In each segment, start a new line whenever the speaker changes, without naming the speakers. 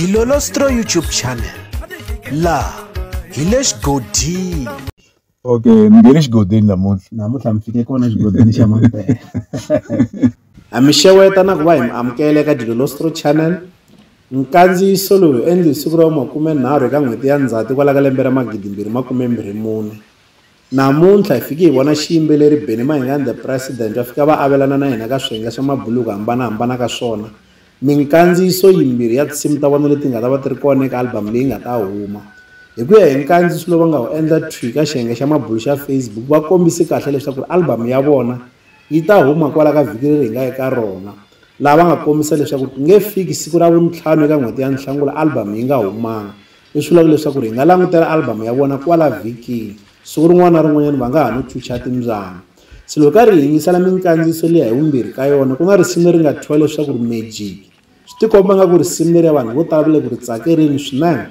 dilolostro youtube channel laha hi le xigodini okay ni nge le xigodini namuntlha namuntlha mi fike kona xigodini xa mampela ha mi xeweta na ku va hi mi amukela eka dilolostro channel nkandziyiso lowu endli hi siku ra makumenharhu eka n'hweti ya ndzhati kwala ka lembe ra magidimbirhi makumembirhi mune Namuntlha hi fike hi vona xiyimbeleri Benny Mayengani The President va fika va avelana na hina ka swiyenge swa mabulu hi ku hambana-hambana ka swona, minkandziyiso yimbirhi ya tinsimu ta vona leti nga ta va ti ri kona eka album leyi nga ta huma. Hi ku ya hi nkandziyiso lowu va nga wu endla thwi ka xiyenge xa mabulu xa Facebook, va kombise kahle leswaku ri album ya vona yi ta huma kwala ka vhiki leri hi nga eka rona, laha va nga kombisa leswaku ku nge fiki siku ra Vuntlhanu eka n'hweti ya Nhlangula album yi nga humanga. Leswi vulaka leswaku hi nga langutela albhamu ya vona kwala vhikini. Siku rin'wana na rin'wanyana va nga ha no chucha timbyana. Se loko hi karhi hi yingisela minkandziyiso liya hi vumbirhi ka yona, ku na risimu leri nga thyiwa leswaku ri Magic. Swi tikomba ingaku risimu leriya vanhu vo tala va le ku ri tsakerini swinene.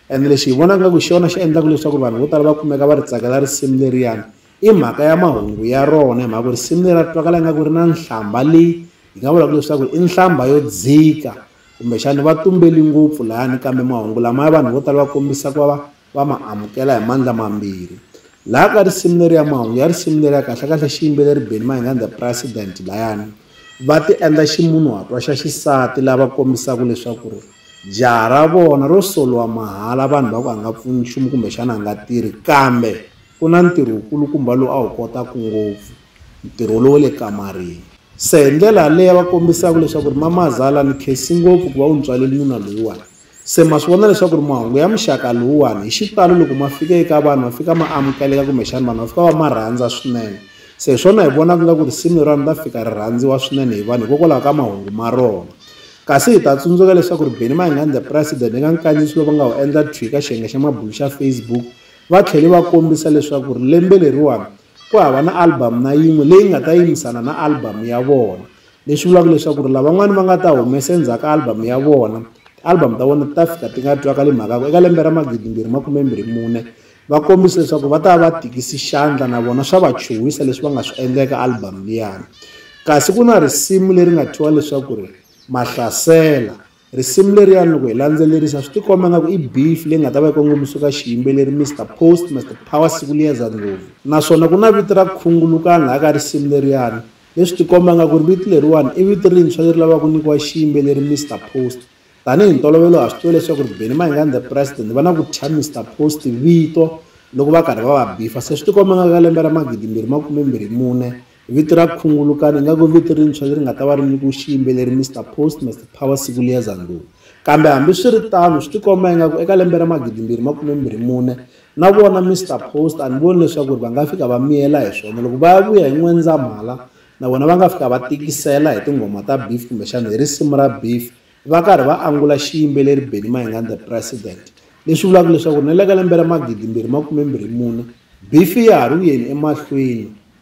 Ene lexi hi vonaka ingaku hi xona xi endlaka leswaku vanhu vo tala va kumeka va ri tsakela risimu leriyani, i mhaka ya mahungu ya rona. Hi mhaka ku risimu leriya ri twakala ingaku ri na nhlambha leyi hi nga vulaka leswaku i nhlambha yo dzika. kumbexani va tumbeli ngopfu layani kambe mahungu lamaya vanhu vo tala va kombisa ku va va va ma amukela hi mandla mambirhi laha ka risimu leri ya mahungu ya risimu leri ya kahlekahle xiyimbeleri beni mahingani the president layani va ti endla ximunhuhatwa xa xisati lava kombisaka leswaku ri jaha ra vona ro soliwa mahala vanhu va ku a nga pfuni nchumu kumbexana a nga tirhi kambe Ku na ntirho wu kulukumba lowu a wu kotaku ngopfu, ntirho lowa le kamarini. Se hi ndlela yaleyo va kombisaku leswaku Mamazala ni khensi ngopfu ku va u ni tswaleli nuna loyiwani. Se ma swi vona leswaku mahungu ya muxaka lowuwani hi xitalo loko ma fika eka vanhu va fika ma amukeleka kumbexani vanhu va fika va ma rhandza swinene. Se hi swona hi vonaka nga ku risimu leriwani ri ta fika ri rhandziwa swinene hi vanhu hikokwalaho ka mahungu ma rona. Kasi hi ta tsundzuka leswaku Benny Mayengani the President eka nkandziyiso lowu va nga wu endla thwi ka xiyenge xa mabulo xa Facebook Va tlhele va kombisa leswaku lembe leriwani ku hava na album na yin'we leyi nga ta yimisana na album ya vona, leswi vulaka leswaku lavan'wana va nga ta humesa endzhaku ka album ya vona, ti-album ta vona ti ta fika ti nga twakali mhaka ku eka lembe ra magidimbirhi makumembirhi mune va kombise leswaku va ta va va tikisi xandla na vona swa va chuhisa leswi va nga swi endla eka album liyani. Kasi ku na risimu leri nga thyiwa leswaku ri Mahlasela. Risimu leriyani loko hi landzelerisa swi tikomba nga ku i beef leyi nga ta va yi kongomisiwe ka xiyimbeleri Mister Post Mister Power siku liyeza ndlopfu naswona ku na vito ra khungulukani laha ka risimu leriyani leswi tikomba nga ku ri vito leriwani i vito rintshwa leri lavaka ku nyikiwa xiyimbeleri Mister Post tanihi ntolovelo ha swi tiva leswaku ri Benny Mayengani the president va na ku thya Mister Post vito loko va karhi va va bifa se swi tikomba nga ka lembe ra magidimbirhi makume mbirhi mune Vito ra Khungulukani ingaku i vito rintshwa leri nga ta va ri nyikiwe xiyimbeleri Mister Post, Mister Power Sikuliyeza Ndlovu. Kambe hambi swi ri tano, swi tikomba ingaku eka lembe ra magidimbirhi makumembirhi mune, na vona Mister Post a ni voni leswaku ri va nga fika va miyela hi swona. Loko va ya vuya hi N'wendzamhala, na vona va nga fika va tikisela hi tinghoma ta Beef kumbexana hi risimu ra Beef va karhi va angula xiyimbeleri Benny Mayengani The President. Leswi vulaka leswaku ri na le ka lembe ra magidimbirhi makumembirhi mune, Beef ya ha ri ku yeni emahlweni.